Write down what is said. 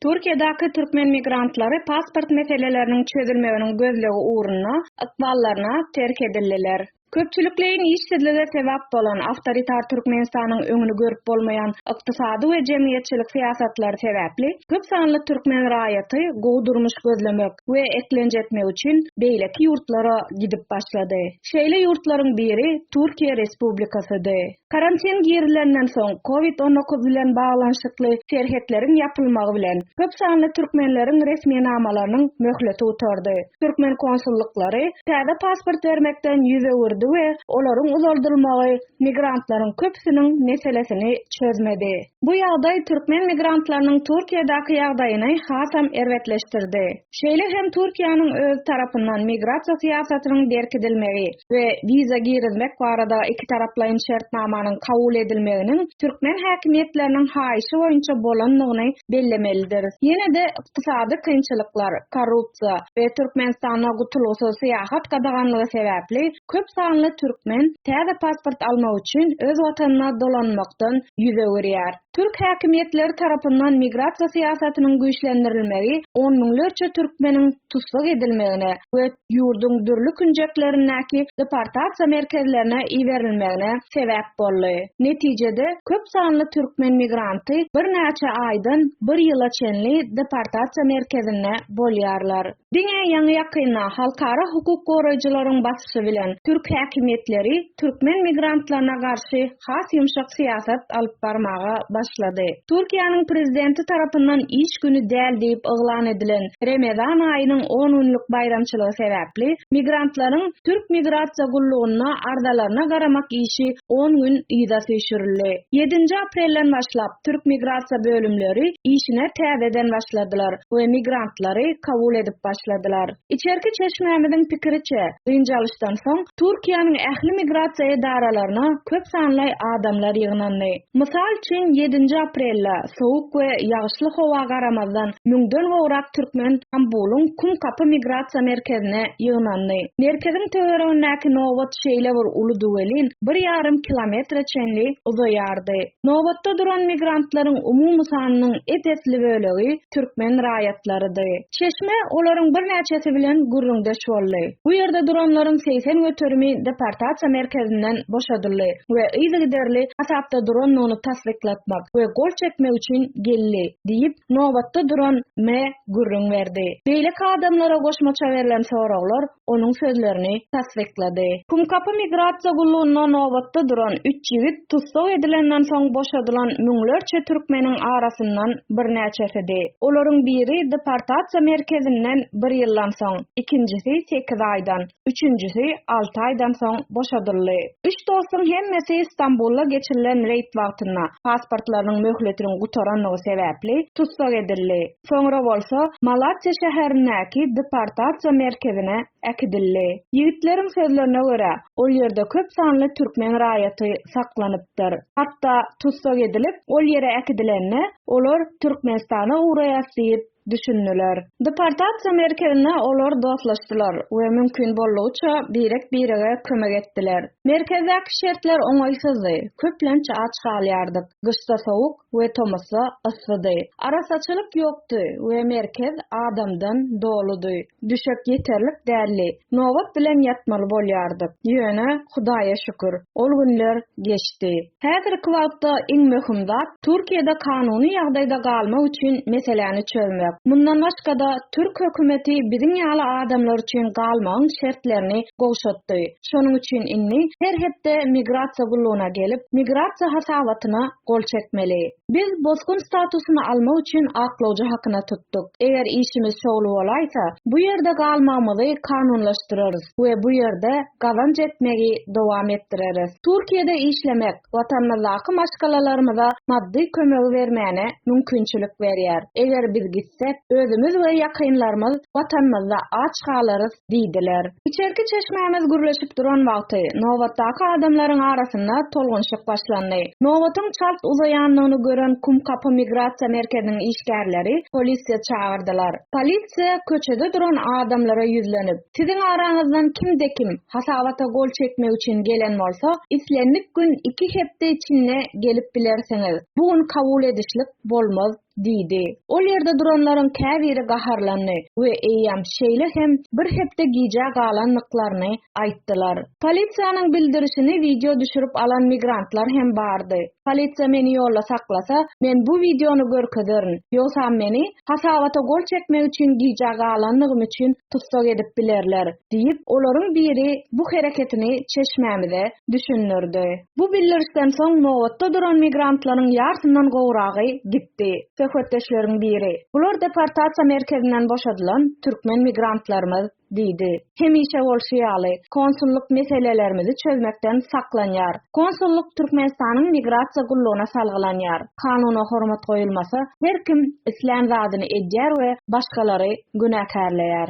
Türkiýedäki türkmen migrantlary pasport meseleleriniň çözülmeginiň gözlegi ugrunda ykballaryna terk edildiler. Köpçülikleýin işsizlige sebäp bolan awtoritar Türkmenistanyň öňüni görüp bolmaýan ykdysady we jemgyýetçilik syýasatlary sebäpli köp sanly türkmen raýaty gowy durmuş gözlemek, we eklenç etmek üçin beýleki ýurtlara gidip başlady. Şeýle ýurtlaryň biri Türkiýe Respublikasydy. Karantin girilenden soň, covid on dokuz bilen baglanyşykly serhetleriň ýapylmagy bilen, köp sanly türkmenleriň resminamalarynyň möhleti gutardy. Türkmen konsullyklary täze pasport bermekden ýüz öwürdi we olaryň uzaldylmagy migrantlaryň köpüsiniň meselesini çözmedi. Bu ýagdaý türkmen migrantlarynyň Türkiýedäki ýagdaýyny hasam erbetleşdirdi. Şeýle hem Türkiýäniň özi tarapyndan migrasiýa syýasatynyň berkidilmegi we wiza girizmek barada ikitaraplaýyn şertnamanyň kabul edilmeginiň türkmen häkimiýetleriniň haýyşy boýunça bolandygyny bellemelidiris. Ýene-de ykdysady kynçylyklar, korrupsiýa we Türkmenistanda gutulgysyz syýahat gadaganlygy sebäpli Köp sanly türkmen täze pasport almak üçin öz watanyna dolanmakdan ýüz öwürýär. Türk häkimiýetleri tarapyndan migrasiýa syýasatynyň güýçlendirilmegi on müňlerçe türkmeniň tussag edilmegine we ýurduň dürli künjeklerindäki deportasiýa merkezlerine iberilmegine sebäp boldy. Netijede, köp sanly türkmen migranty birnäçe aýdan bir ýyla çenli deportasiýa merkezinde bolýarlar. Diňe ýaňy-ýakynda halkara hukuk goraýjylaryň basyşy bilen türk häkimiýetleri türkmen migrantlaryna garşy has ýumşak syýasat alyp barmaga başlady. Türkiýäniň prezidenti tarapyndan iş güni däl diýip yglan edilen Remezan aýynyň on günlük baýramçylygy sebäpli migrantlaryň türk migrasiýa gullugyna arzalaryna garamak işi on gün yza süýşürildi. Ýedinji aprelden başlap türk migrasiýa bölümleri işine täzeden başladylar we migrant. aktlary kabul edip başladylar. Içerki çeşmämiziň pikiriçe, dynç alyşdan soň, Türkiýäniň ähli migrasiýa edaralaryna köp sanly adamlar ýygnandy. Mysal üçin, ýedinji aprelde, sowuk we ýagyşly howa garamazdan, müňden gowrak türkmen Stambulyň Kumkapy migrasiýa merkezine ýygnandy. Merkeziň töweregindäki nobat şeýle bir uludy welin, bir ýarym kilometre çenli uzaýardy. Nobatda duran migrantlaryň umumy sanynyň ep-esli bölegi türkmen raýatlarydy. Çeşme olaryň birnäçesi bilen gürrüňdeş boldy. Bu ýerde duranlaryň segsen göterimi deportasiýa merkezinden boşadyldy we yzygiderli hasapda durandygyny tassyklatmak we gol çekmek üçin geldi diýip, nobatda duran M. gürrüň berdi. Beýleki adamlara goşmaça berlen soraglar onuň sözlerini tassyklady. Kumkapy migrasiýa gullugynda nobatda duran üç ýigit tussag edilenden soň boşadylan müňlerçe türkmeniň arasyndan birnäçesidi. Olaryň biri deportasiýa merkezinden bir ýyldan soň, ikinjisi sekiz aýdan, üçünjisi alty aýdan soň boşadyldy. Üç dostuň hemmesi Stambulda geçirilen reýd wagtynda pasportlarynyň möhletiniň gutarandygy sebäpli tussag edildi. Soňra bolsa Malatýa şäherindäki deportasiýa merkezine äkidildi. Ýigitleriň sözlerine görä, ol ýerde köp sanly türkmen raýaty saklanypdyr. Hatda tussag edilip, ol ýere äkidilende, olar Türkmenistana ugraýas diýip düşündiler. Deportasiýa merkezinde olar dostlaşdylar we mümkin boldugyça birek-birege kömek etdiler. Merkezdäki şertler oňaýsyzdy, köplenç aç galýardyk, gyşda sowuk, we tomusda yssydy. Arassaçylyk ýokdy we merkez adamdan doludy. Düşek ýeterlik däldi. Nobat bilen ýatmaly bolýardyk. Ýöne, Hudaýa şükür, ol günler geçdi. Häzirki wagtda iň möhüm zat Türkiýede kanuny ýagdaýda galmak üçin meseläni çözmek. Mundan başga-da, türk hökümeti biziň ýaly adamlar üçin galmagyň şertlerini gowşatdy. Şonuň üçin indi her hepde migrasiýa gullugyna gelip, migrasiýa hasabatyna gol çekmeli. Biz bosgun statusyny almak üçin aklawjy hakyna tutduk. Eger işimiz şowly bolaýsa, bu ýerde galmagymyzy kanunlaşdyrarys we bu ýerde gazanç etmegi dowam etdireris. Türkiýede işlemek Watanymyzdaky maşgalalarymyza maddy kömegi bermäne mümkinçilik berýär. Eger biz gitsek, özümiz we ýakynlarymyz Watanymyzda aç galarys diýdiler. Içerki çeşmämiz gürleşip duran wagty, nobatdaky adamlaryň arasynda tolgunşyk başlandy. Nobatyň çalt uzaýandygyny gören Kumkapy migrasiýa merkeziniň işgärleri polisiýa çagyrdylar. Polisiýa köçede duran adamlara ýüzlenip, Siziň araňyzdan kimde-kim hasabata gol çekmek üçin gelen bolsa, islendik gün iki hepde içinde gelip bilersiňiz. Bu gün kabul edişlik bolmaz. Diýdi. Ol ýerde duranlaryň käbiri gaharlandy we eýýäm şeýle hem bir hepde gijä galandyklaryny aýtdylar. Polisiýanyň bildirişini wideo düşürip alan migrantlar hem bardy. Polisiýa meni ýolda saklasa, men bu wideony görkezerin, ýogsam meni hasabata gol çekmek üçin gijä galandygym üçin tussag edip bilerler. diýip, olaryň biri bu hereketini çeşmämize düşündirdi. Bu bildirişden soň nobatda duran migrantlaryň ýarsyndan gowragy gitdi. Söhbetdeşleriň biri, Bular deportasiýa merkezinden boşadylan türkmen migrantlarymyz diýdi. Hemişe bolşy ýaly, konsullyk meselelerimizi çözmekden saklanýar. Konsullyk Türkmenistanyň migrasiýa gullugyna salgylanýar. Kanuna hormat goýulmasa, her kim islän zadyny edýär we başgalary günäkärleýär.